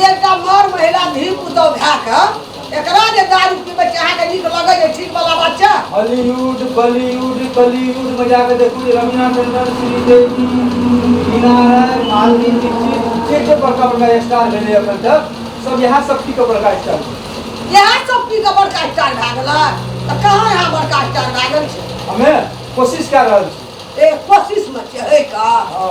एकटा मर महिला धी पुतौ भए कऽ एकरा जे दारू पीबै छै अहाँके नीक लगै छै ठीक वाला बात छै हॉलीवुड बॉलीवुड कॉलीवुड में जाकर देखू जे रवीना टंडन श्रीदेवी मीना राय मालवी दीक्षित जे जे बड़का बड़का स्टार भेलै अखन तक सब यहाँ सब की बड़का स्टार इएह सब पी कऽ बड़का स्टार भए गेलै तऽ कहाँ यहाँ बड़का स्टार भए गेल छै हमे कोशिश कए रहल छी ए कोशिशमे छै है का हँ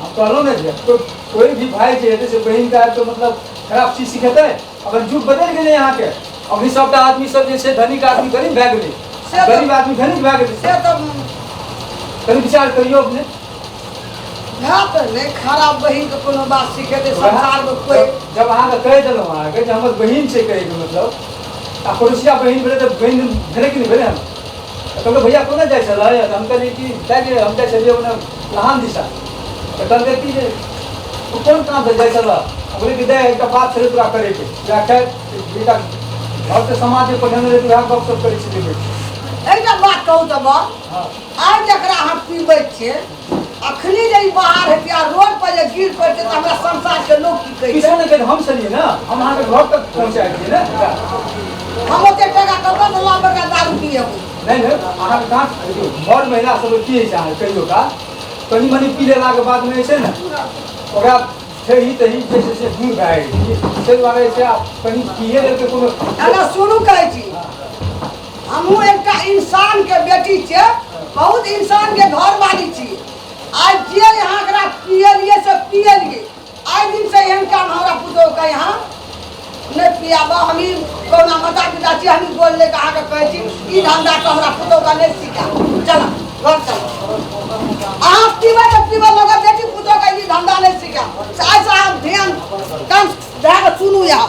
हम कहलहुँ ने जे तो कोई भी भाई जे हेतै से बहिन का तो मतलब खराब चीज सिखेतै अखन युग बदलि गेलै अहाँके अभी सबटा आदमी सब जे छै धनिक आदमी गरीब भए गेलै से तऽ- गरीब आदमी धनिक भए गेलै से तऽ कनि विचार करियौ अपने भए तऽ नहि खराब बहिनके कोनो बात सिखेतै संसारमे कोइ जब- जब अहाँके कहि देलहुँ अहाँके जे हमर बहिन छै कहैके मतलब आ पड़ोसिया बहिन भेलै तऽ बहिन भेलै कि नहि भेलै हम कहलकै भैया कोना जाइ छलै तऽ हम कहलियै कि जाइ जे हम जाइ छलियै ओना लहान दिशा तऽ कहलकै कि जे तू कोन काम से जाइ छलऽ हम कहलियै कि दाइ एकटा बात छलै तोरा करैके या खैर बेटा घरके समाज जे पढ़ेने रहै उएह गप सप करै छलियै बैठ कऽ। एकटा बात कहू तऽ बा हँ आइ जकरा अहाँ पीबै छियै अखनी जे ई बाहर हेतै आ रोड पर जे गिर पड़तै तऽ हमरा संसार के लोग की कहै किसी ने कहे हम चलिए ना हम अहाँ के घर तक पहुँचा दिए ना हम ओते टाका कतऽ से ला बड़का दारू पिए नहीं है अहाँ के कहाँ देखियो घर महिला सब की है चाहे कहियो का कनी मनी पी लेला के बाद में छै ना ओकरा ठेही तही जे छै से दूर भए गेल ताहि दुआरे छै आब कनी पिए लेल तऽ कोनो अरे सुनू कहै छी हमहूँ एकटा इंसानके बेटी छियै बहुत इंसानके घरवाली छी आइ जे यहाँ एकरा पियलियै से पियलियै आइ दिन से एहन काम हमरा पुतोह के यहाँ नहि पियाबा हम ई कहुना माता पिता छी हम ई बोल लेके अहाँके कहै छी ई धंधा के हमरा पुतोह के नहि सिखा चल घर चल अहाँ पीबै तऽ पीबै मगर बेटी पुतोह के ई धंधा नहि सिखा से आइसँ अहाँ ध्यान कान धए कऽ सुनू यहाँ